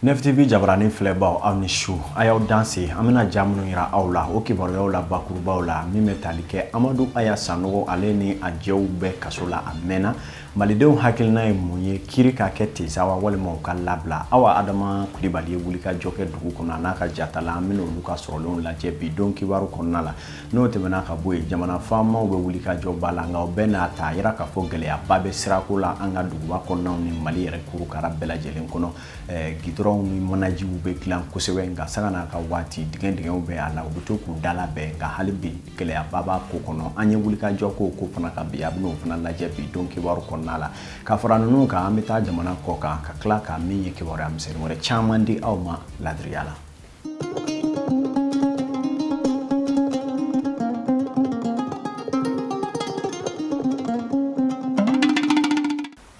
NFTV jabaranin filɛbaw aw ni su a y'aw danse an bɛna ja minnu yira aw la o kibaruyaw la bakurubaw la min bɛ tali kɛ amadu aya sanogo ale ni a jɛw bɛɛ kaso la a mɛnna malidenw hakilina ye mun ye kiri ka kɛ de sa wa walima u ka labila awa adama kulibali ye wulikajɔ kɛ dugu kɔnɔ a n'a ka jatala an bɛna olu ka sɔrɔlenw lajɛ bi don kibaru kɔnɔna la n'o tɛmɛna ka bɔ yen jamana faamaw bɛ wulikajɔba la nka o bɛɛ n'a ta a yira k'a fɔ gɛlɛyaba bɛ sirako la an ka duguba kɔnɔnaw ni mali yɛrɛ kurukara bɛɛ lajɛlen kɔnɔ gidɔrɔnw ni manajiw bɛ dilan kosɛbɛ nka sanga n'a ka waati dingɛ dingɛw bɛ a la u bɛ to k'u dalabɛn nka hali bi gɛlɛyaba b'a ko kɔnɔ an ye wulikajɔ k'o ko fana kan bi an bɛn'o fana lajɛ bi don kibaru kɔnɔna la ka fara ninnu kan an bɛ taa jamana kɔ kan ka tila ka min ye kibaruya misɛnnin wɛrɛ caman di aw ma ladiriya la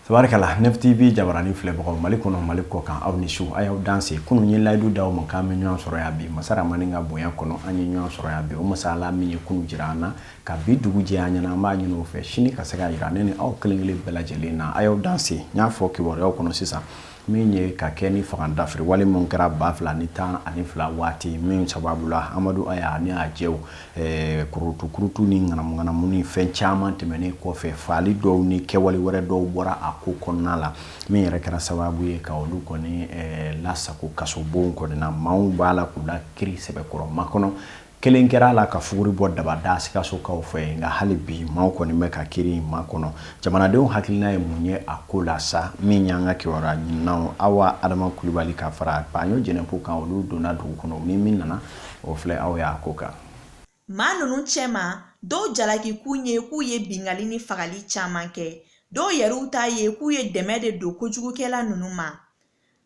Tabarikala NFTV jabaranin filɛbagaw mali kɔnɔ mali kɔ kan aw ni su a y'aw danse kunun ye layidu d'aw ma k'an bɛ ɲɔgɔn sɔrɔ yan bi masa ramani ka bonya kɔnɔ an ye ɲɔgɔn sɔrɔ yan bi o masa ala min ye kunun jira an na ka bi dugu jɛ an ɲɛna an b'a ɲini o fɛ sini ka se ka yira ne ni aw kelenkelen bɛɛ lajɛlen na a y'aw danse n y'a fɔ kibaruyaw kɔnɔ sisan min ye ka kɛ ni fanga dafiri wale min kɛra ba fila ni tan ani fila waati min sababu la amadu aya ni a jɛw eh, kurutukurutu ni ŋanamuŋanamu ni fɛn caman tɛmɛnen kɔfɛ faali dɔw ni kɛwale wɛrɛ dɔw bɔra a ko kɔnɔna la min yɛrɛ kɛra sababu ye ka olu kɔni eh, lasago kasobonw kɔnɔna maaw b'a la k'u la kiri sɛbɛkɔrɔ makɔnɔ kelen kɛra a la ka fuguri bɔ dabada sikasokaw fɛ nka hali bi maaw kɔni bɛ ka kiri in makɔnɔ jamanadenw hakilina ye mun ye a ko la sa min y'an ka kibaruya ɲininaw awa adama kulibali ka fara paɲo jɛnɛpo kan olu donna dugu kɔnɔ ni min nana o filɛ aw y'a ko kan maa ninnu cɛma dɔw jalakikun ye k'u ye bingali ni fagali caman kɛ dɔw yɛrɛw ta ye k'u ye dɛmɛ de don kojugukɛla ninnu ma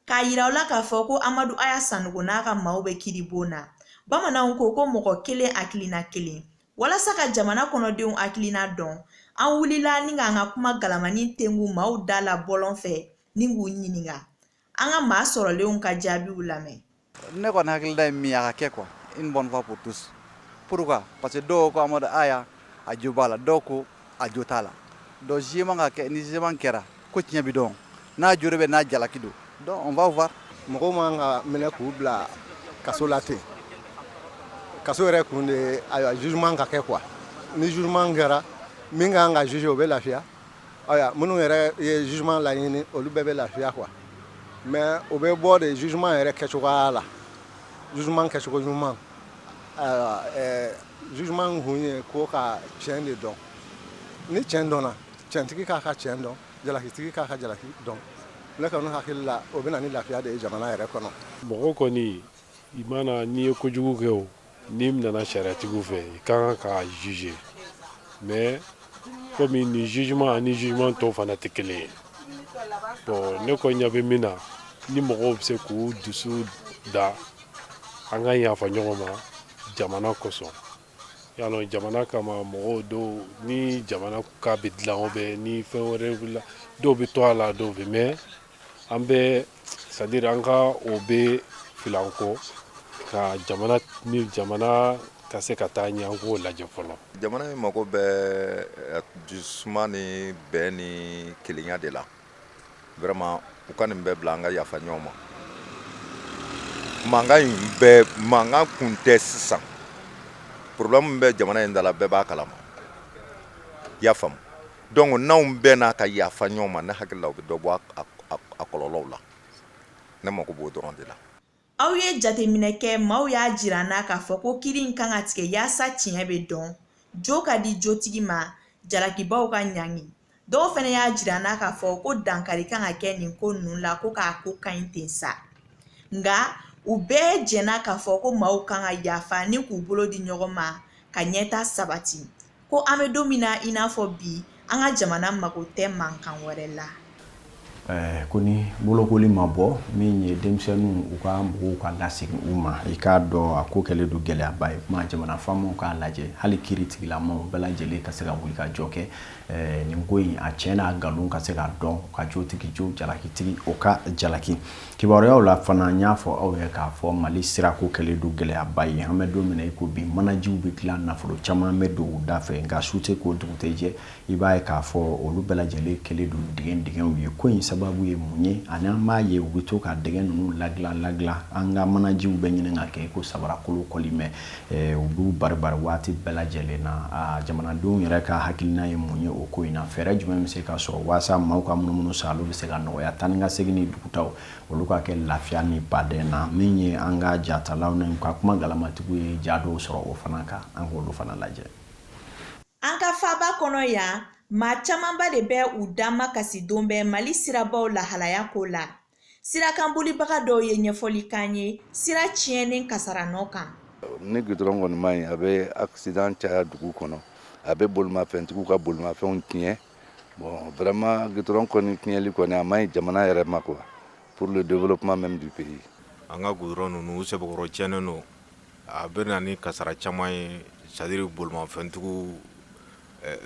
k'a yira aw la k'a fɔ ko amadu aya sanugo n'a ka maaw bɛ kiribon na bamananw ko ko mɔgɔ kelen hakilina kelen walasa ka jamana kɔnɔdenw hakilina dɔn an wulila ni k'an ka kuma galamani tengu maaw da la bɔlɔn fɛ ni k'u ɲininka an ka maa sɔrɔlenw ka jaabiw lamɛn ne kɔni hakilila ye min ye a ka kɛ quoi une bonne fois pour tous pourquoi parce que dɔw ko amadu aya a jo b'a la dɔw ko a jo t'a la donc jugement ka kɛ ni jugement kɛra ko tiɲɛ bɛ dɔn n'a jo bɛ n'a jalaki don donc on va voir mɔgɔw man ka minɛ k'u bila kaso la ten kaso yɛrɛ kun de ayiwa jugement ka kɛ quoi ni jugement kɛra min ka kan ka juger o bɛ lafiya ayiwa minnu yɛrɛ ye jugement laɲini olu bɛɛ bɛ lafiya quoi mais o bɛ bɔ de jugement yɛrɛ kɛcogoya la jugement kɛcogo ɲuman Jugement kun ye ko ka cɛn de dɔn ni cɛn dɔnna cɛntigi k'a ka cɛn dɔn jalakitigi k'a ka jalaki dɔn ne kɔni hakili la o bɛ na ni lafiya de ye jamana yɛrɛ kɔnɔ mɔgɔ kɔni i mana n'i ye kojugu kɛ o n'i nana sariyatigiw fɛ i ka kan ka juger mais kɔmi nin jugement ani jugement tɔw fana tɛ kelen ye bon ne kɔni ɲa bɛ min na ni mɔgɔw bɛ se k'u dusu da An ka yafa ɲɔgɔn ma jamana kosɔn y'a lɔn jamana kama mɔgɔw dɔw ni jamana ka bɛ dilan o bɛ ni fɛn wɛrɛ dɔw bɛ to a la dɔw bɛ mais an bɛ c'est-à-dire an ka o bɛɛ fili an kɔ ka jamana ni jamana ka se ka taa ɲɛ an k'o lajɛ fɔlɔ jamana in mago bɛ dususuma ni bɛn ni kelenya de la Vraiment u ka nin bɛɛ bila an ka yafa ɲɔgɔn ma. Mankan in bɛɛ mankan kun tɛ sisan. Problème min bɛ jamana in da la bɛɛ b'a kalama. I y'a faamu donc n'anw bɛnna ka yafa ɲɔgɔn ma ne hakili la o bɛ dɔ bɔ a kɔlɔlɔw la. Ne mako b'o dɔrɔn de la. aw ye jateminɛ kɛ maaw y'a jira an na k'a fɔ ko kiri in kan ka tigɛ yaasa tiɲɛ bɛ dɔn jo ka di jotigi ma jalakibaw ka ɲangi dɔw fana y'a jira an na k'a fɔ ko dankari kan ka kɛ nin ko ninnu la ko k'a ko ka ɲi ten sa nka u bɛɛ jɛnna k'a fɔ ko maaw kan ka yafa ni k'u bolo di ɲɔgɔn ma ka ɲɛtaa sabati ko an bɛ don min na i n'a fɔ bi an ka jamana mago tɛ mankan wɛrɛ la eh, ko ni bolokoli ma bɔ min ye denmisɛnninw u ka mɔgɔw ka lasegin u ma i k'a dɔn a ko kɛlen don gɛlɛyaba ye kuma jamana faamaw k'a lajɛ hali kiri tigilamaw bɛɛ lajɛlen ka se ka wuli ka jɔ kɛ eh, nin ko in a tiɲɛ n'a nkalon ka se ka dɔn ka jotigi jo jalakitigi o ka jalaki Kibaruyaw la fana n y'a fɔ aw ye k'a fɔ Mali sirako kɛlen don gɛlɛyaba ye an bɛ don min na i ko bi manajiw bɛ dilan nafolo caman bɛ don u da fɛ nka su tɛ ko dugu tɛ jɛ i b'a ye k'a fɔ olu bɛɛ lajɛlen kɛlen don dingɛ dingɛw ye ko in sababu ye mun ye ani an b'a ye u bɛ to ka dingɛ ninnu ladilan ladilan an ka manajiw bɛ ɲini ka kɛ i ko sabarakolon kɔlimɛ u b'u bari bari waati bɛɛ lajɛlen na aa jamanadenw yɛrɛ ka hakilinan ye mun ye o ko in na fɛɛrɛ jumɛn bɛ se ka sɔrɔ waasa maaw ka munumunu sa olu bɛ se ka nɔgɔya taa ni ka segin ni dugutaw olu ka kɛ lafiya ni baden na min ye an ka jatalaw ni u ka kuma galamatigiw ye ja dɔw sɔrɔ o fana kan an k'olu fana lajɛ an ka faaba kɔnɔ yan maa camanba de bɛ u da makasi don bɛɛ mali sirabaw lahalaya ko la sirakanbolibaga dɔw ye ɲɛfɔli k'an ye sira tiɲɛnen kasara nɔ kan ni gudɔrɔn kɔni man ɲi a bɛ accident caya dugu kɔnɔ a bɛ bolimafɛntigiw ka bolimafɛnw tiɲɛ bon vraiment gudɔrɔn kɔni tiɲɛli kɔni a man ɲi jamana yɛrɛ ma quoi pour le développement même du pays an ka gudɔrɔn ninnu u sɛbɛkɔrɔ tiɲɛnen don a bɛ na ni kasara caman ye c'est à dire bolimafɛntigiw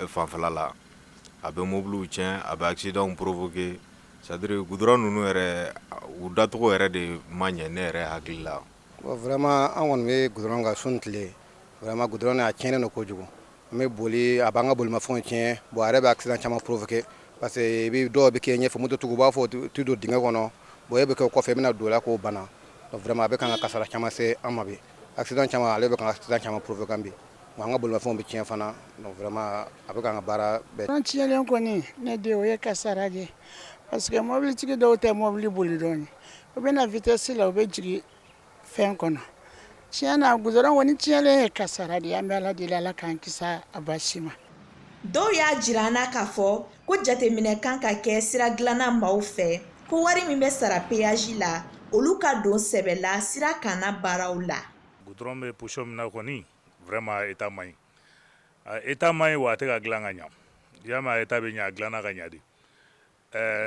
fanfɛla la a bɛ mobiliw tiɲɛ a bɛ accident provoquer C'est à dire gudɔrɔn ninnu yɛrɛ u dacogo yɛrɛ de ma ɲɛ ne yɛrɛ hakili la vraiment an kɔni bɛ gudɔrɔn kan su ni tile vraiment gudɔrɔn a tiɲɛnen don kojugu n bɛ boli a b'an ka bolimafɛnw tiɲɛ bon a yɛrɛ bɛ accident caman provoquer parce que bɛ dɔw bɛ kɛ ɲɛfɛ mototigiw b'a fɔ u tɛ don dingɛ kɔnɔ bon e bɛ kɛ kɔfɛ i bɛna don o la ko banna vraiment a bɛ kan ka kasara caman se an ma bi accident caman ale bɛ kan ka accident caman provoquer yan bi Wa an ka bolimafɛnw bɛ tiɲɛ fana donc vraiment a bɛ k'an ka baara bɛɛ A tiɲɛlen kɔni ne de o ye kasara de ye parce que mɔbilitigi dɔw tɛ mɔbili boli dɔɔni u bɛ na vitesse la u bɛ jigin fɛn kɔnɔ tiɲɛ na goudron kɔni tiɲɛlen ye kasara de ye an bɛ Ala deli Ala k'an kisi a basi ma. Dɔw y'a jira an na k'a fɔ ko jateminɛ kan ka kɛ sira dilanna maaw fɛ ko wari min bɛ sara peyaji la, olu ka don sɛbɛ la sira kan na baaraw la. gudɔrɔn bɛ position min na kɔni vraiment a état man ɲi état man ɲi wa a tɛ ka dilan ka ɲa diɲɛ a état bɛ ɲa a dilanna ka ɲa de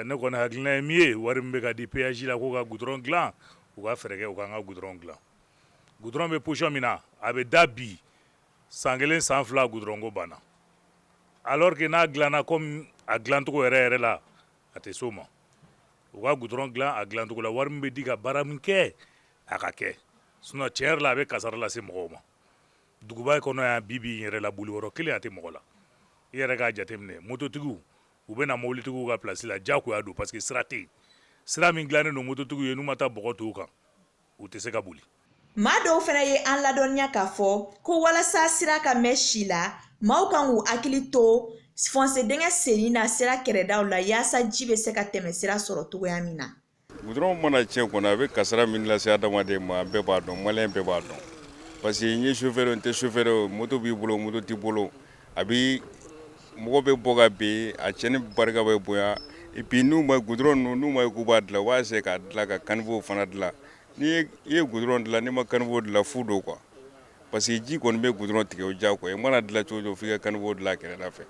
ne kɔni hakilina ye min ye wari min bɛ ka di peyaji la k'u ka gudɔrɔn dilan u ka fɛɛrɛ kɛ u k'an ka gudɔrɔn dilan gudɔrɔn bɛ position min na a bɛ da bi san kelen san fila gudɔrɔn ko banna alors que n'a dilanna kɔmi a dilancogo yɛrɛ yɛrɛ la a tɛ s'o ma u ka gudɔrɔn dilan a dilancogo la wari min bɛ di ka baara min kɛ a ka kɛ sinon tiɲɛ yɛrɛ la a bɛ kasara lase mɔgɔw ma duguba kɔnɔ yan bi bi in yɛrɛ la boli yɔrɔ kelen a tɛ mɔgɔ la i yɛrɛ k'a jateminɛ mototigiw u bɛ na mobilitigiw ka place la diyagoya don parce que sira tɛ yen sira min dilannen don mototigiw ye n'u ma taa mɔgɔ tɔw kan u tɛ se ka boli maa dɔw fana ye an ladɔnniya k'a fɔ ko walasa sira ka mɛn si la maaw kan k'u hakili to fossé dingɛ senni na sira kɛrɛdaw la yaasa ji bɛ se ka tɛmɛ sira sɔrɔ cogoya min na Gudɔrɔn mana tiɲɛ kɔnɔ a bɛ kasara min lase adamaden ma bɛɛ b'a dɔn maliyɛn bɛɛ b'a dɔn parce que n ye chauffeur n tɛ chauffeur moto b'i bolo moto t'i bolo a bɛ mɔgɔ bɛ bɔ ka bin a tiɲɛni barika bɛ bonya et puis n'u ma gudɔrɔn ninnu n'u ma ye k'u b'a dilan u b'a essayer k'a dilan ka caniveau fana dilan n'i ye gudɔrɔn dilan n'i ma caniveau dilan fu don quoi Parce que ji kɔni bɛ goudron tigɛ o diyagoya i mana dilan cogo o cogo f'i ka caniveau dilan kɛrɛda fɛ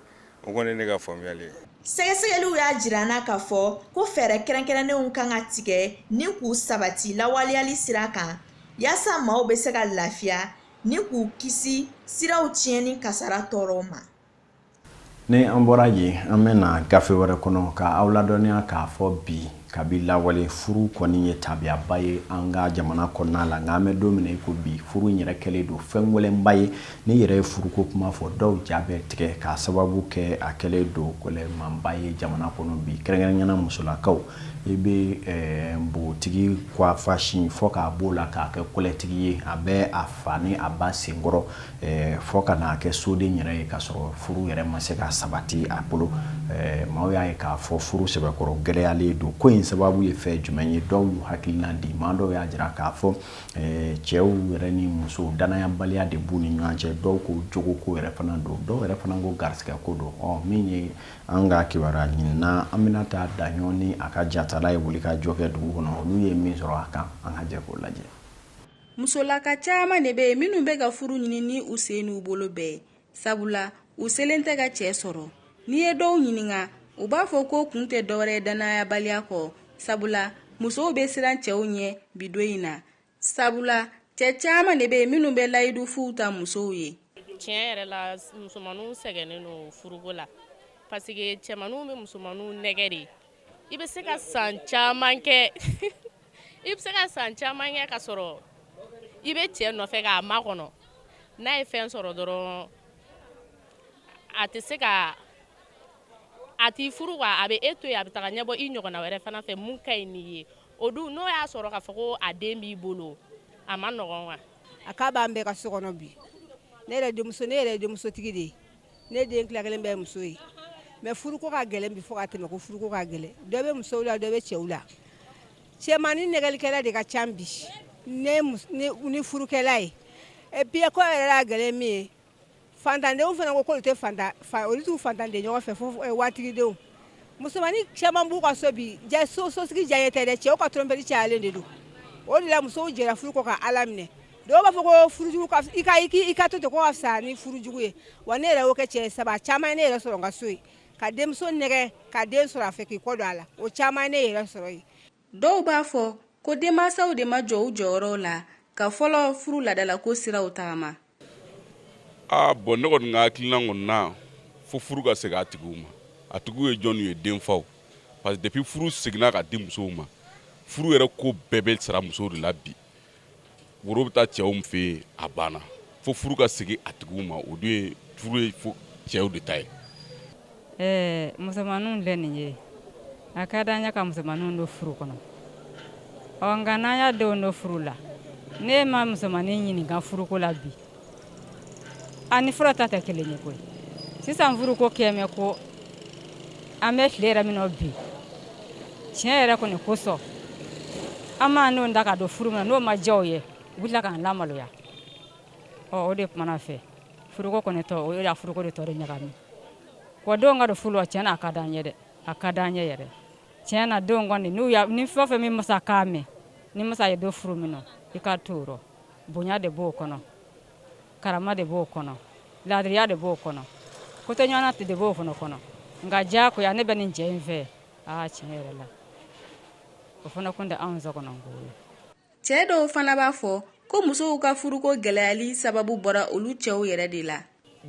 o kɔni ne ka faamuyali ye sɛgɛsɛgɛliw y'a jira an na k'a fɔ ko fɛɛrɛ kɛrɛnkɛrɛnnenw kan ka tigɛ ni k'u sabati lawaleyali sira kan yaasa maaw bɛ se ka lafiya ni k'u kisi siraw tiɲɛni kasara tɔɔrɔw ma Ni an bɔra yen an bɛ na gafe wɛrɛ kɔnɔ ka aw ladɔnniya k'a fɔ bi kabi lawale furu kɔni ye tabiyaba ye an ka jamana kɔnɔna la nka an bɛ don min na i ko bi furu yɛrɛ kɛlen don fɛn gɛlɛnba ye n'i yɛrɛ ye furuko kuma fɔ dɔw ja bɛ tigɛ k'a sababu kɛ a kɛlen don gɛlɛmanba ye jamana kɔnɔ bi kɛrɛnkɛrɛnnenya la musolakaw i bɛ npogotigi kuwafasi fo k'a b'o la k'a kɛ kɔlɛtigi ye a bɛ a fa ni a ba senkɔrɔ Eh, fo ka n'a kɛ soden yɛrɛ ye k'a sɔrɔ furu yɛrɛ ma se ka sabati a bolo eh, maaw y'a ye k'a fɔ furu sɛbɛkɔrɔ gɛlɛyalen don ko in sababu ye fɛn jumɛn ye dɔw y'u hakilina di maa dɔw y'a jira k'a fɔ eh, cɛw yɛrɛ ni musow dannayabaliya de b'u ni ɲɔgɔn cɛ dɔw ko jogo ko yɛrɛ fana don dɔw yɛrɛ fana ko garisigɛ ko don ɔ min ye an ka kibaruya ɲinina Aminata Daɲɔgɔ ni a ka jatala ye wulikajɔ kɛ dugu kɔnɔ olu ye min sɔrɔ a kan an ka jɛ k'o lajɛ musolaka caman de bɛ yen minnu bɛ ka furu ɲini ni u sen n'u bolo bɛɛ sabula u selen tɛ ka cɛ sɔrɔ n'i ye dɔw ɲininka u b'a fɔ ko kun tɛ dɔwɛrɛ dannayabaliya kɔ sabula musow bɛ siran cɛw ɲɛ bi don in na sabula cɛ caman de bɛ yen minnu bɛ layidu fuw ta musow ye tiɲɛ yɛrɛ la musomanw sɛgɛnnen don furuko la parce que cɛmanw bɛ musomanw nɛgɛ de i bɛ se ka san caman kɛ i bɛ se ka san caman kɛ ka sɔrɔ i bɛ cɛ nɔfɛ k'a makɔnɔ n'a ye fɛn sɔrɔ dɔrɔn a tɛ se ka a t'i furu wa a bɛ e to yen a bɛ taga ɲɛbɔ i ɲɔgɔnna wɛrɛ fana fɛ min ka ɲi n'i ye o dun n'o y'a sɔrɔ k'a fɔ ko a den b'i bolo a man nɔgɔn wa a k'a b'an bɛɛ ka so kɔnɔ bi ne yɛrɛ denmusotigi de ye ne den tila kelen bɛɛ ye muso ye mais furuko ka gɛlɛn bi fo ka tɛmɛ ko furuko ka gɛlɛn dɔ bɛ musow la dɔ bɛ cɛw la cɛmannin nɛgɛlikɛla de ka ca bi ni furukɛla ye et puis encore yɛrɛ y'a gɛlɛn min ye faantandenw fana ko k'olu tɛ olu t'u faantanden ɲɔgɔn fɛ fo waritigidenw musomannin caman b'u ka so bi so sosigi diya ye tɛ dɛ cɛw ka tromperie cayalen de don o de la musow jɛra furu kɔ ka ala minɛ dɔw b'a fɔ ko furujugu i ka to ten ko ka fisa ni furujugu ye wa ne yɛrɛ y'o kɛ cɛ saba caman ye ne yɛrɛ sɔrɔ n ka so yen ka denmuso nɛgɛ ka den sɔrɔ a fɛ k'i kɔ don a la o caman ye ne yɛrɛ sɔrɔ yen dɔw b'a fɔ ko denmansaw de ma jɔ u jɔyɔrɔw la ka fɔlɔ furu laadalako siraw tagama ah bon ne kɔni ka hakilina kɔni na fo furu ka segin a tigiw ma a tigiw ye jɔnw ye denfaw parce que depuis furu seginna ka di musow ma furu yɛrɛ ko bɛɛ bɛ sara musow de la bi woro bɛ taa cɛw fɛ yen a banna fo furu ka segin a tigiw ma o dun ye furu ye fo cɛw de ta ye. Ɛɛ musomanninw filɛ nin ye a ka d'an ye ka musomanninw don furu kɔnɔ ɔ nka n'an y'a denw don furu la n'e ma musomannin ɲininka furuko la bi ani fɔlɔ ta tɛ kelen ye koyi sisan furu ko kɛmɛ ko an bɛ tile yɛrɛ min na bi tiɲɛ yɛrɛ kɔni kosɔn an man'u da ka don furu min na n'o ma diya u ye u bɛ tila k'an lamaloya ɔ o de kumana fɛ furuko kɔni tɔ o ye la furuko de tɔ de ɲagami wa denw ka don furu la tiɲɛ na a ka d'an ye dɛ a ka d'an ye yɛrɛ tiɲɛ na denw kɔni n'u y'a ni fɛn o fɛn min masa kan mɛn n'i masa y'i don furu min na i ka t'o rɔ bonya de b'o kɔnɔ karama de b'o kɔnɔ laadiriya de b'o kɔnɔ kotoɲɔgɔntala de b'o fana kɔnɔ nka diya ko yan ne bɛ nin cɛ in fɛ aa tiɲɛ yɛrɛ la o fana kun tɛ anw so kɔnɔ ko ye cɛ dɔw fana b'a fɔ ko musow ka furuko gɛlɛyali sababu bɔra olu cɛw yɛrɛ de la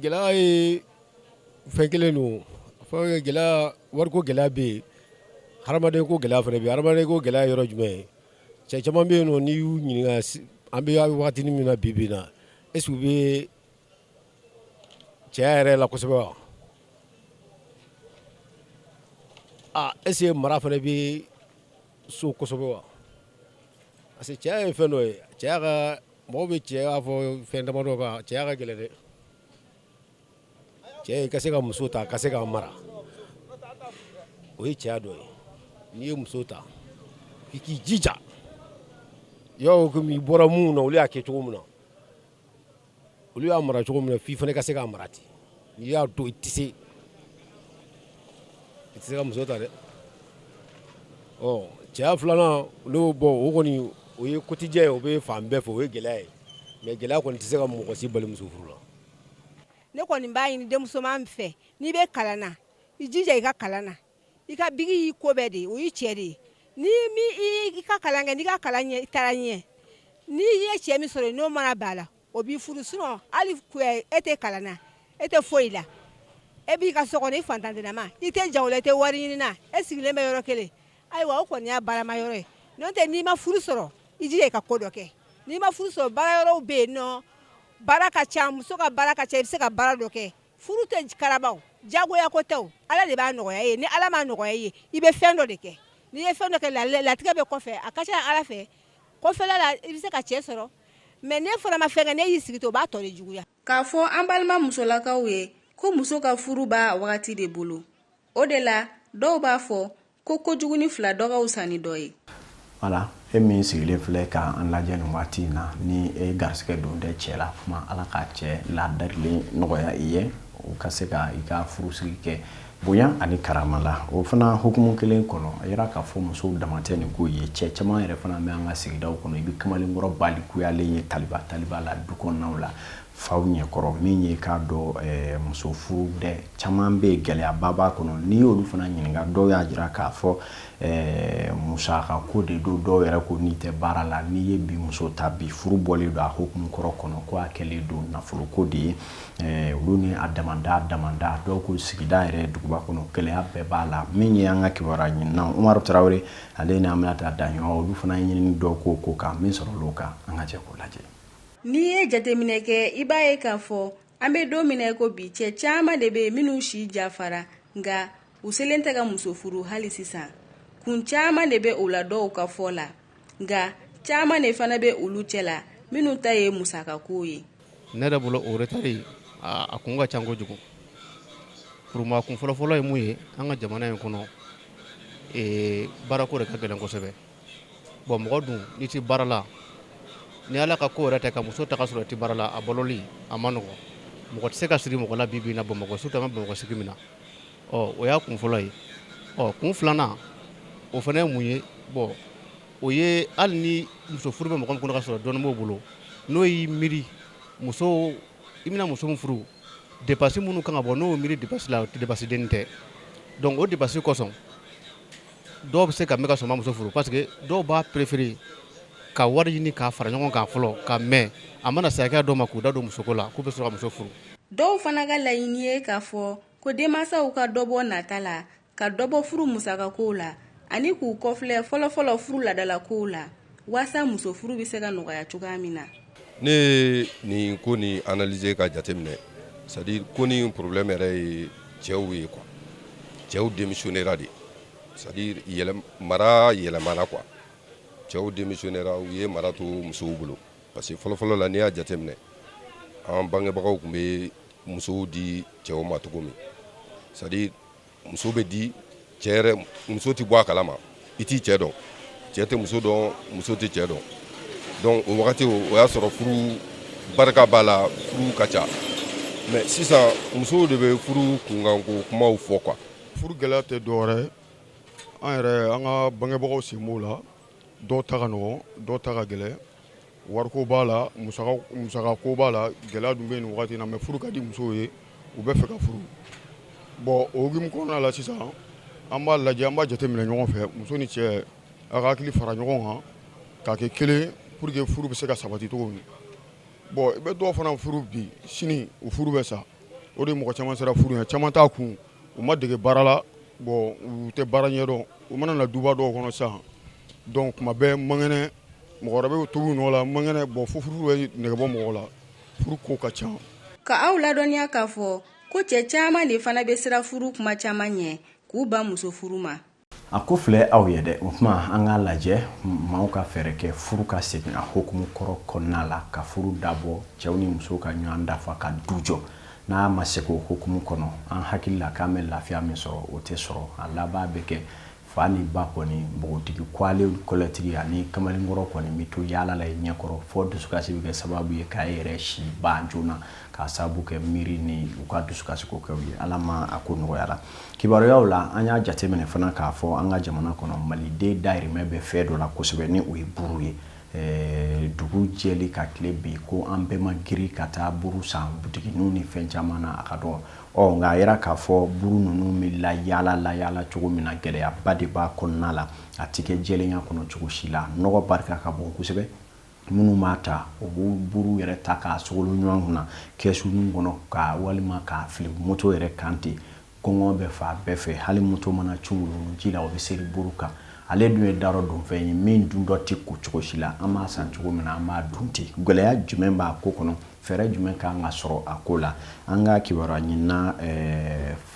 gɛlɛya ye fɛn kelen don gɛlɛya wariko gɛlɛya bɛ yen hadamaden ko gɛlɛya fana bɛ yen hadamaden ko gɛlɛya yɔrɔ jumɛn ye Cɛ caman bɛ yen n'i y'u ɲininka an bɛ waati min na bi bi na est-ce que u bɛ cɛya yɛrɛ la kosɛbɛ wa aaa est-ce que mara fana bɛ so kosɛbɛ wa parce que cɛya ye fɛn dɔ ye cɛya ka mɔgɔw bɛ cɛya fɔ fɛn damadɔ kan cɛya ka gɛlɛn dɛ cɛ ka se ka muso ta ka se ka mara o ye cɛya dɔ ye n'i ye muso ta i k'i jija i bɔra minnu na olu y'a kɛ cogo min na olu y'a mara cogo min i fana ka se k'a mara ten n'i y'a dɔn i tɛ se i tɛ se ka muso ta dɛ cɛya filanan olu bɔ o kɔni o ye quotidien ye o bɛ fan bɛɛ fɛ o ye gɛlɛya ye mais gɛlɛya kɔni tɛ se ka mɔgɔ si bali muso furu la ne kɔni b'a ɲini denmusoman fɛ n'i bɛ kalan na i jija i ka kalan na i ka biki y'i ko bɛɛ de ye o y'i cɛ de ye ni i ka kalan kɛ n'i ka kalan ɲɛ i taara ɲɛ n'i ye cɛ min sɔrɔ n'o mana b'a la o b'i furu sinon hali e tɛ kalan na e tɛ foyi la e b'i ka so i fantanma i tɛ jago la i tɛ wari ɲini na e sigilen bɛ yɔrɔ kelen ayiwa o kɔni y'a barama yɔrɔ ye n'o tɛ n'i ma furu sɔrɔ i jija i ka ko dɔ kɛ n'i ma furu sɔrɔ baara yɔrɔ bɛ yen nɔ Baara ka ca muso ka baara ka ca i bɛ se ka baara dɔ kɛ furu tɛ karaba o jagoya ko tɛ o ala de b'a nɔgɔya i ye ni ala m'a nɔgɔya i ye i bɛ fɛn dɔ de kɛ n'i ye fɛn dɔ kɛ latigɛ bɛ kɔfɛ a ka ca ala fɛ kɔfɛla la i bɛ se ka cɛ sɔrɔ mais n'e fana ma fɛn kɛ n'e y'i sigi to o b'a tɔ de juguya k'a fɔ an balima musolakaw ye ko muso ka furu b'a wagati de bolo o de la dɔw b'a fɔ ko kojuguni fila dɔ ka wusa ni dɔ ye voilà e min sigilen filɛ ka an lajɛ nin waati in na ni e garisigɛ don tɛ cɛ la kuma ala ka cɛ ladarilen nɔgɔya i ye o ka se ka i ka furusigi kɛ bonya ani karama la o fana hukumu kelen kɔnɔ a yira k'a fɔ musow dama tɛ nin ko ye cɛ caman yɛrɛ fana bɛ an ka sigidaw kɔnɔ i bɛ kamalenkɔrɔ balikuyalen ye taliba taliba la du kɔnɔnaw la faw ɲɛkɔrɔ min ye k'a dɔn eh, muso furu dɛ caman bɛ yen gɛlɛyaba b'a kɔnɔ n'i y'olu fana ɲininka dɔw y'a jira k'a fɔ eh, musaka ko de don dɔw yɛrɛ ko n'i tɛ baara la n'i ye bi muso ta bi furu bɔlen don a hukumu kɔrɔ kɔnɔ ko a kɛlen don nafolo ko de ye eh, olu ni a damanda damanda dɔw ko sigida yɛrɛ duguba kɔnɔ gɛlɛya bɛɛ b'a la min ye an ka kibaruya ɲininaw umaru tarawele ale ni aminata daɲɔgɔn olu fana ye ɲinini dɔw k'o ko kan min sɔrɔl'o kan an ka jɛ k'o lajɛ N'i ye jateminɛ kɛ i b'a ye k'a fɔ an bɛ don min na ko bi cɛ caman de bɛ yen minnu si jafara nka u selen tɛ ka muso furu hali sisan kun caman de bɛ o la dɔw ka fɔ la nka caman de fana bɛ olu cɛ la minnu ta ye musakako ye ne yɛrɛ bolo o retard a kun ka ca kojugu pour moi a kun fɔlɔfɔlɔ ye mun ye an ka jamana in kɔnɔ baarako de ka gɛlɛn kosɛbɛ Bon mɔgɔ dun n'i tɛ baara la ni ala ka ko tɛ ka muso ta ka sɔrɔ i tɛ baara la a baloli a man nɔgɔ mɔgɔ tɛ se ka siri mɔgɔ la bi na bamakɔ surtout an bɛ bamakɔ sigi min na ɔ o y'a kun fɔlɔ ye ɔ kun filanan o fana ye mun ye bon o ye hali ni muso furu bɛ mɔgɔ min kɔnɔ ka sɔrɔ dɔɔnin b'o bolo n'o y'i miiri muso i bɛna muso min furu dépense minnu kan ka bɔ n'o miiri dépense la o tɛ dépense denni tɛ donc o dépense kosɔn dɔw bɛ se ka mɛn ka sɔrɔ u ma muso furu parce que dɔw b'a préférer ka wari ɲini k'a fara ɲɔgɔn kan fɔlɔ ka mɛn a mana se hakɛya dɔ ma k'u da don musoko la k'u bɛ sɔrɔ ka muso furu. Dɔw fana ka laɲini ye k'a fɔ ko denmansaw ka dɔ bɔ nata la, ka dɔ bɔ furu musakakow la ani k'u kɔfilɛ fɔlɔ-fɔlɔ furu ladalakow la. walasa muso furu bɛ se ka nɔgɔya cogoya min na ne ye nin ko ni analyser ka jateminɛ c'est-à-dire ko ni problème yɛrɛ ye cɛw ye quoi cɛw démissionnera de c'est-à-dire mara yɛlɛmana quoi cɛw démissionnera u ye mara to musow bolo parce que fɔlɔfɔlɔ la n'i y'a jateminɛ an bangebagaw tun bɛ musow di cɛw ma cogo min c'est-à-dire muso bɛ di cɛ yɛrɛ muso tɛ bɔ a kalama i t'i cɛ dɔn cɛ tɛ muso dɔn muso tɛ cɛ dɔn donc o wagati o y'a sɔrɔ furu barika b'a la furu ka ca mais sisan musow de bɛ furu kunkanko kumaw fɔ quoi furu gɛlɛya tɛ dɔwɛrɛ an yɛrɛ an ka bangebagaw sen b'o la dɔw ta ka nɔgɔn dɔw ta ka gɛlɛn wariko b'a la musakako b'a la gɛlɛya dun bɛ yen nin waati in na mais furu ka di musow ye u bɛ fɛ ka furu bon o hukumu kɔnɔna la sisan an b'a lajɛ an b'a jateminɛ ɲɔgɔn fɛ muso ni cɛ a ka hakili fara ɲɔgɔn kan k'a kɛ kelen ye pour que furu bɛ se ka sabati cogo min bon i bɛ dɔw fana furu bi sini u furu bɛ sa o de mɔgɔ caman siran furu ɲɛ caman t'a kun u ma dege baara la bon u tɛ baara ɲɛdɔn u mana na duba dɔw kɔnɔ sa donc kuma bɛɛ man kɛnɛ mɔgɔ wɛrɛ bɛ tobi u nɔ la man kɛnɛ bon fo furu bɛ negebɔ mɔgɔ la furu ko ka ca ka aw ladɔnniya k'a fɔ ko cɛ caman de fana bɛ siran furu kuma caman ɲɛ k'u ban muso furu ma A ko filɛ aw ye dɛ o tuma an k'a lajɛ maaw ka fɛɛrɛ kɛ furu ka segin a hukumu kɔrɔ kɔnɔna la ka furu dabɔ cɛw ni musow ka ɲɔgɔn dafa ka du jɔ n'a ma se k'o hukumu kɔnɔ an hakili la k'an bɛ lafiya min sɔrɔ o tɛ sɔrɔ a laban bɛ kɛ fa ni ba kɔni npogotigi kwale kɔlɛtigi ani kamalenkɔrɔ kɔni bɛ to yaala la i ɲɛkɔrɔ fo dusukasi bɛ kɛ sababu ye k'a yɛrɛ si ban joona k'a sababu kɛ miiri ni u ka dusukasi ko kɛw ye ala ma a ko nɔgɔyara Kibaruyaw la an y'a jateminɛ fana k'a fɔ an ka jamana kɔnɔ maliden dahirimɛ bɛ fɛn dɔ la kosɛbɛ ni o ye buru ye dugu jɛli ka tile bin ko an bɛɛ ma girin ka taa buru san butigi ninnu ni fɛn caman na a ka dun ɔ nka a jira k'a fɔ buru ninnu bɛ layaala layaala cogo min na gɛlɛyaba de b'a kɔnɔna la a tɛ kɛ jɛlenya kɔnɔ cogo si la nɔgɔ barika ka bon kosɛbɛ minnu b'a ta o b'o buru yɛrɛ ta k'a sogolo ɲɔgɔn kunna kɛsu ninnu kɔnɔ ka walima k'a fili moto yɛrɛ kan ten gɔngɔn bɛ fan bɛɛ fɛ hali moto mana cun ji la o bɛ seri buru kan ale dun ye darɔ dunfɛn ye min duntɔ tɛ ko cogo si la an b'a san cogo min na an b'a dun ten gɛlɛya jumɛn b'a ko kɔnɔ fɛɛrɛ jumɛn ka kan ka sɔrɔ a ko la an ka kibaruya ɲinina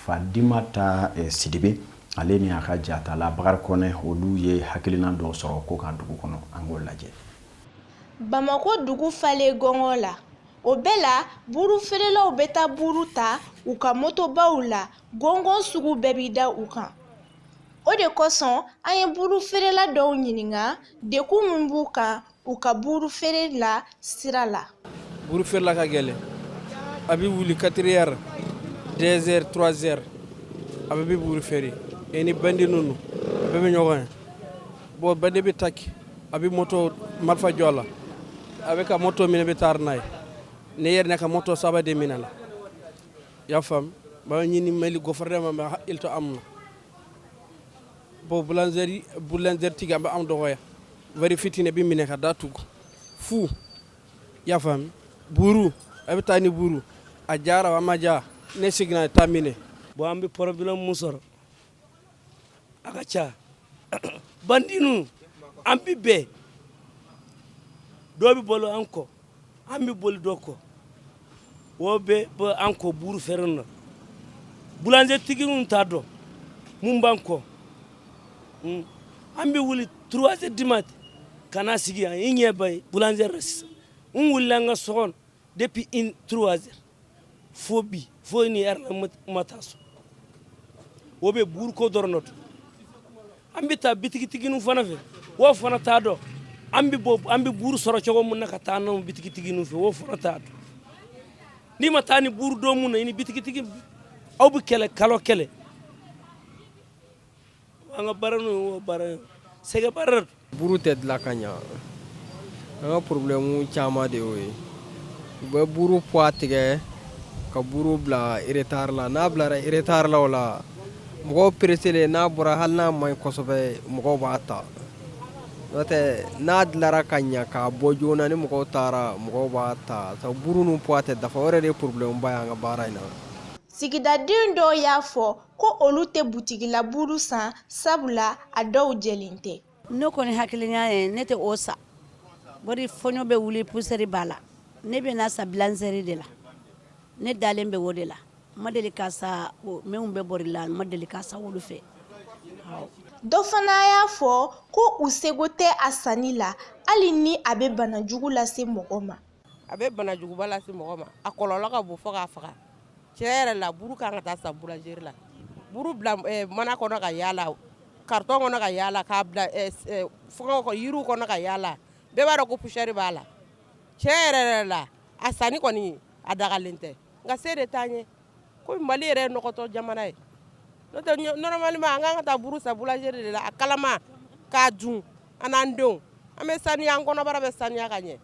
fadimata sidibe Ale ni a ka jatala bakari kɔnɛ olu ye hakilina dɔw sɔrɔ ko kan dugu kɔnɔ an k'o lajɛ bamakɔ dugu falen gɔngɔn la o bɛɛ la buru feerelaw bɛ taa buru ta u ka motobaw la gɔngɔn sugu bɛɛ bɛ da u kan o de kosɔn an ye buru feerela dɔw ɲininka degun min b'u kan u ka buuru feere la sira la. Buuru feerela ka gɛlɛn, a bɛ wuli quatre heures, deux heures, trois heures a bɛɛ bɛ buuru feere et ni bandi ninnu a bɛɛ bɛ ɲɔgɔn ye bon bandi bɛ ataki a bɛ moto marifa jɔ a la a bɛ ka moto minɛ bɛ taari n'a ye ne yɛrɛ ne ka moto saba de minɛna i y'a faamu n b'a ɲini Mali gɔfɛrɛnaman ka hakili to an na. bɔn bulanzɛri bulanzɛritigi an bɛ anw dɔgɔya wari fitini bɛ minɛ ka da tugu fu i y'a faamu buuru a bɛ taa ni buuru a jara a ma ja n'i seginna a t'a minɛ bɔn an bɛ porobilɛmu mun sɔrɔ a ka ca bandi ninnu an bɛ bɛn dɔ bɛ boli an kɔ an bɛ boli dɔ kɔ o bɛɛ b'an kɔ buuru feere na bulanzetigiw t'a dɔn mun b'an kɔ hmm. an bɛ wuli trois heures du mat ka na sigi yan i ɲɛ b'a ye bulanzɛri la sisan n wulila an ka so kɔnɔ depuis in trois heures fo bi fo nin heure la ma taa so o bɛɛ buruko dɔrɔn de don an bɛ taa bitigitigininw fana fɛ wo fana t'a dɔn an bɛ bɔ an bɛ buru sɔrɔ cogo min na ka taa n'anw bitigitigininw fɛ wo fana t'a dɔn n'i ma taa ni buru don mun na i ni bitigitigi aw bɛ kɛlɛ kalo kelen an ka baara n'o baara ye sɛgɛn baara buru tɛ dilan ka ɲɛ an ka problème caman de y'o ye u bɛ buru poids tigɛ ka buru bila retard la n'a bilara retard la o la mɔgɔw pereselen n'a bɔra hali n'a man ɲi kosɛbɛ mɔgɔw b'a ta n'o tɛ n'a dilara ka ɲɛ k'a bɔ joona ni mɔgɔw taara mɔgɔw b'a ta sabu buru ninnu poids tɛ dafa o yɛrɛ de ye problème ba ye an ka baara in na sigidaden dɔw y'a fɔ ko olu tɛ butigila buru san sabula a dɔw jɛlen tɛ ne kɔni hakilina ye ne tɛ o sa bari fɔɲɔ bɛ wuli pusɛri b'a la ne bɛ na sa bulanzɛri de la ne dalen bɛ o de la ma deli ka sa minnu bɛ bɔri la ma deli ka sa olu fɛ dɔ fana y'a fɔ ko u seko tɛ a sanni la hali ni a bɛ bana jugu lase mɔgɔ ma a bɛ banajuguba lase mɔgɔ ma a kɔlɔlɔ ka bon fo k'a faga tiɲɛ yɛrɛ la buru kan ka taa sa bulanzɛri la buru bila mana kɔnɔ ka yaala carton kɔnɔ ka yaala k'a bila yiriw kɔnɔ ka yaala bɛɛ b'a dɔn ko pusɛri b'a la tiɲɛ yɛrɛ la a sanni kɔni a dagalen tɛ nka se de t'an ye ko mali yɛrɛ nɔgɔtɔ jamana ye n'o tɛ normalement an kan ka taa buru san boulangerie de la a kalama k'a dun an n'an denw an bɛ saniya an kɔnɔbara bɛ saniya ka ɲɛ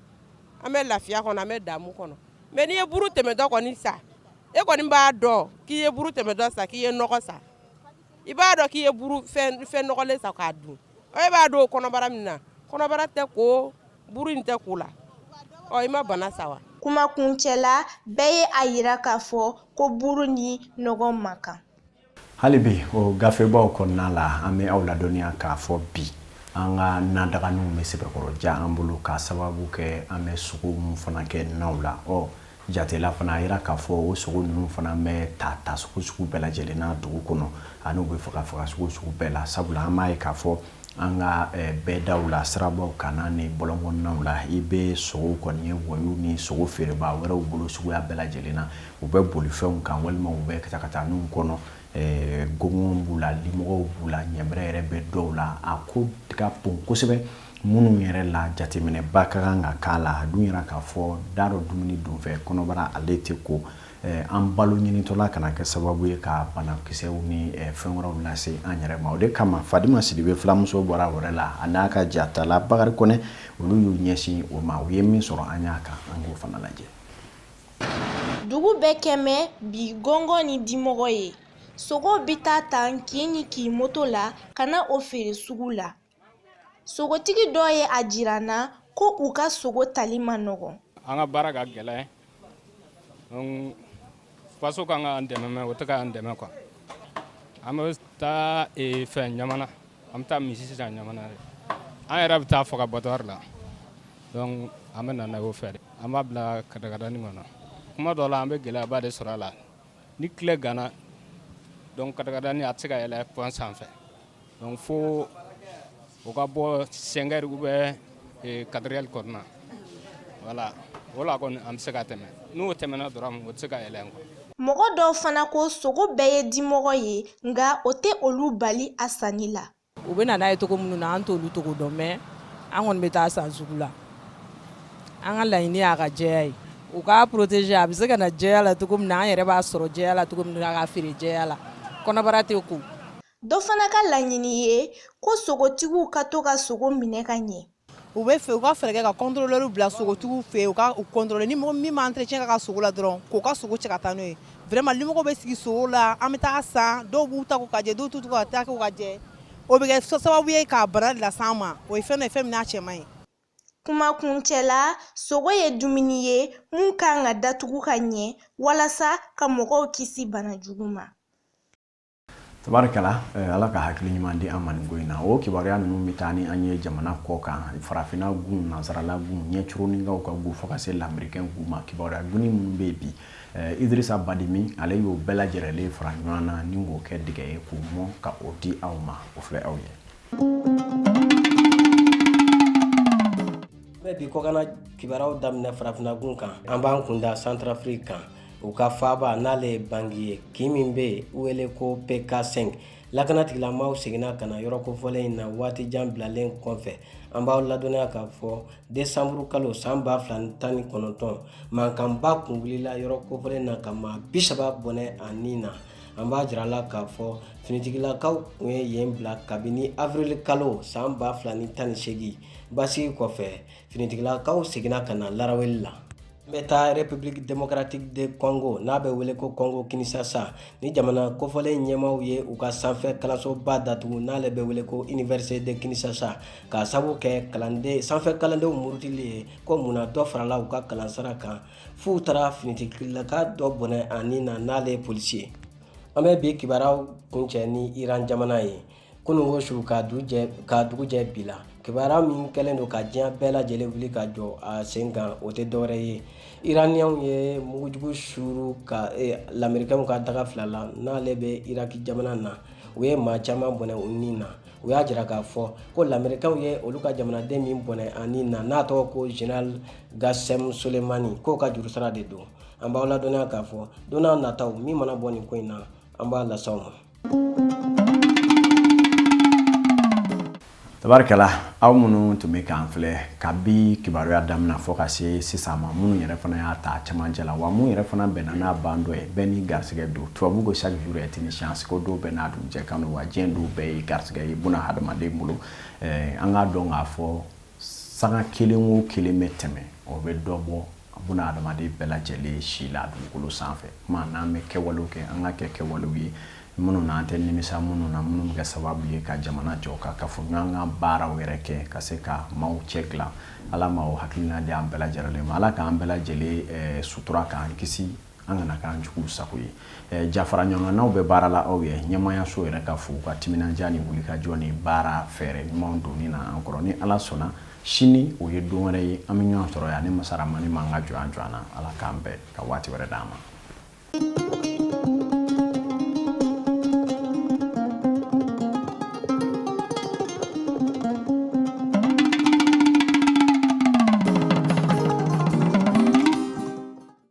an bɛ lafiya kɔnɔ an bɛ damu kɔnɔ mais n'i ye buru tɛmɛtɔ kɔni sa e kɔni b'a dɔn k'i ye buru tɛmɛtɔ sa k'i ye nɔgɔ sa i b'a dɔn k'i ye buru fɛn nɔgɔlen sa k'a dun e b'a don kɔnɔbara min na kɔnɔbara tɛ ko buru in tɛ ko la ɔ i ma bana sa wa kuma kuncɛ la bɛɛ ye a yira k'a fɔ ko buru ni nɔgɔ man kan hali bi o gafebaw kɔnɔna la an bɛ aw ladɔnniya k'a fɔ bi an ka nadaganinw bɛ sɛbɛkɔrɔ ja an bolo k'a sababu kɛ an bɛ sogo minnu fana kɛ naw la ɔ Jatela fana a jira k'a fɔ o sogo ninnu fana bɛ ta ta sugu sugu bɛɛ lajɛlen na dugu kɔnɔ ani u bɛ faga faga sugu sugu bɛɛ la sabula an b'a ye k'a fɔ an ka bɛdaw la sirabaw kan ani bɔlɔnkɔnɔnaw la i bɛ sogo kɔni ye wayew ni sogo feerebaa wɛrɛw bolo suguya bɛɛ lajɛlen na u bɛ bolifɛnw kan walima u bɛ katakataninw kɔnɔ gɔngɔn b'u la limɔgɔw b'u la ɲɛbɛrɛ yɛrɛ bɛ dɔw la a ko ka bon kosɛbɛ Minnu yɛrɛ la jateminɛba ka kan ka k'a la a dun yɛrɛ k'a fɔ da dɔ dumuni donfɛ kɔnɔbara ale tɛ ko an balo ɲinitɔla kana kɛ sababu ye ka banakisɛw ni fɛn wɛrɛw lase an yɛrɛ ma o de kama Fadima Sidibe filamuso bɔra wɛrɛ la a n'a ka jatala Bakari Kɔnɛ olu y'u ɲɛsin o ma u ye min sɔrɔ an y'a kan an k'o fana lajɛ dugu bɛɛ kɛlen bɛ gɔngɔn ni dimɔgɔ ye sogo bɛ taa tan kin ni kin moto la ka na o feere sugu la Sogotigi dɔ ye a jira an na ko u ka sogo tali ma nɔgɔ an ka baara ka gɛlɛn faso ka kan ka an dɛmɛ mais o tɛ ka an dɛmɛ quoi an bɛ taa fɛn Ɲamana an bɛ taa misi san Ɲamana yen an yɛrɛ bɛ taa faga abattoir la donc an bɛ na n'a ye an b'a bila katakatanin kɔnɔ kuma dɔ la an bɛ gɛlɛyaba de sɔrɔ a la ni tile ganna donc katakatanin a tɛ se ka yɛlɛ pɔn sanfɛ Donc fo o ka bɔ cinq heures ou bien quatre heures kɔnɔna voilà o la kɔni an bɛ se ka tɛmɛ n'o tɛmɛna dɔrɔn o tɛ se ka yɛlɛ quoi mɔgɔ dɔw fana ko sogo bɛɛ ye dimɔgɔ ye nka o tɛ olu bali a sanni la u bɛ na n'a ye cogo minnu na an t'olu cogo dɔn mais an kɔni bɛ taa san sugu la an ka laɲini y'a ka jɛya ye u k'a protéger a bɛ se ka na jɛya la cogo min na an yɛrɛ b'a sɔrɔ jɛya la cogo min na a ka feere jɛya la kɔnɔbara tɛ ko dɔ fana ka laɲini ye ko sogotigiw ka to ka sogo minɛ ka ɲɛ u b'a fɛ u ka fɛɛrɛ kɛ ka contrôleur bila sogotigiw fɛ yen u ka u contrôler ni mɔgɔ min ma entretien k'a ka sogo la dɔrɔn k'o ka sogo cɛ ka taa n'o ye vraiment limɔgɔw bɛ sigi sogo la an bɛ taa san dɔw b'u taa ko ka jɛ dɔw t'u ka taa ko ka jɛ o bɛ kɛ sababu ye ka bana las'an ma o ye fɛn dɔ ye fɛn min n'a cɛ man ɲi kuma kuncɛ la sogo ye dumuni ye mun ka kan ka datugu ka ɲɛ walasa ka mɔgɔw kisi bana jugu ma Tabarikala eh, Ala ka hakili ɲuman di an ma nin ko in na. O kibaruya ninnu bɛ taa ni an ye jamana kɔ kan, farafinna gun, nansarala gun, ɲɛcoroninkaw ka gun fo ka se lamerikɛn gun ma. Kibaruya dunni minnu bɛ yen bi, eh, Idirisa Badimi, ale y'o bɛɛ lajɛrɛlen fara ɲɔgɔn na ni k'o kɛ dɛgɛ ye k'o mɔn ka o di aw ma. O filɛ aw ye. An bɛ bi kɔkanna kibaruyaw daminɛ farafinna gun kan. An b'an kun da Santarafiriki kan. u ka faaba n'ale ye bangi ye kin min bɛ yen wele ko pk5 lakana tigilamaw seginna ka na yɔrɔ kofɔlen in na waati jan bilalen kɔfɛ an b'aw ladɔnniya k'a fɔ desanburu kalo san ba fila ni tan ni kɔnɔntɔn mankanba kun wulila yɔrɔ kofɔlen na ka maa bi saba bɔnɛ a ni na an b'a jira la k'a fɔ finitigilakaw kun ye yen bila kabini avril kalo san ba fila ni tan ni seegin basigi kɔfɛ finitigilakaw seginna ka na laraweli la An bɛ taa République démocratique de Congo n'a bɛ wele ko Congo Kinshasa nin jamana kofɔlen ɲɛmaaw ye u ka sanfɛ kalansoba datugu n'ale bɛ wele ko Université de Kinshasa k'a sabu kɛ kalanden sanfɛ kalandenw murutili ye ko munna dɔ farala u ka kalansara kan f'u taara finitigilaka dɔ bɔnɛ a ni na n'ale ye polisi ye. An bɛ bi kibaruyaw kuncɛ ni Iran jamana ye. kunungo su ka dugu jɛ bi la kibaruya min kɛlen don ka diɲɛ bɛɛ lajɛlen wuli ka jɔ a sen kan o tɛ dɔwɛrɛ ye iraniyanw ye mugujugu suuru ka eh, lamerikɛnw ka daga fila la n'ale bɛ iraki jamana na u ye maa caman bɔnɛ u ni na u y'a jira k'a fɔ ko lamerikɛnw ye olu ka jamanaden min bɔnɛ a ni na n'a tɔgɔ ko général gassem soleimani k'o ka jurusara de don an b'aw ladɔnniya k'a fɔ don n'a nataw min mana bɔ nin ko in na an b'a las'aw ma tabarikala aw minnu tun bɛ k'an filɛ kabi kibaruya daminɛ fo ka se sisan ma minnu yɛrɛ fana y'a ta cɛmancɛ la wa minnu yɛrɛ fana bɛnna n'a ban dɔ ye bɛɛ n'i garisigɛ don tubabu ko chaque jour est une chance ko don bɛɛ n'a dugujɛ kan don wa diɲɛ don bɛɛ ye garisigɛ ye buna hadamaden bolo an k'a dɔn k'a fɔ sanga kelen o kelen bɛ tɛmɛ o bɛ dɔ bɔ buna hadamaden bɛɛ lajɛlen si la dugukolo sanfɛ kuma n'an bɛ kɛwalew kɛ an k'a kɛ kɛwalew ye minnu n'an tɛ nimisa minnu na minnu bɛ kɛ sababu ye ka jamana jɔ ka kafoɲɔgɔn ka baaraw yɛrɛ kɛ ka se ka maaw cɛ dilan ala ma o hakilina di an bɛɛ lajɛlen ma ala k'an bɛɛ lajɛlen sutura k'an kisi an kana k'an juguw sago ye eh, jafara ɲɔgɔnnaw bɛ baara la aw ye ɲɛmaayaso yɛrɛ ka fo u ka timinandiya ni wulikajɔ ni baara fɛɛrɛ ɲumanw donni na an kɔrɔ ni ala sɔnna sini o ye don wɛrɛ ye an bɛ ɲɔgɔn sɔrɔ yan ni masa ramani man ka jɔn jɔn na ala k'an bɛn ka waati wɛrɛ d'an ma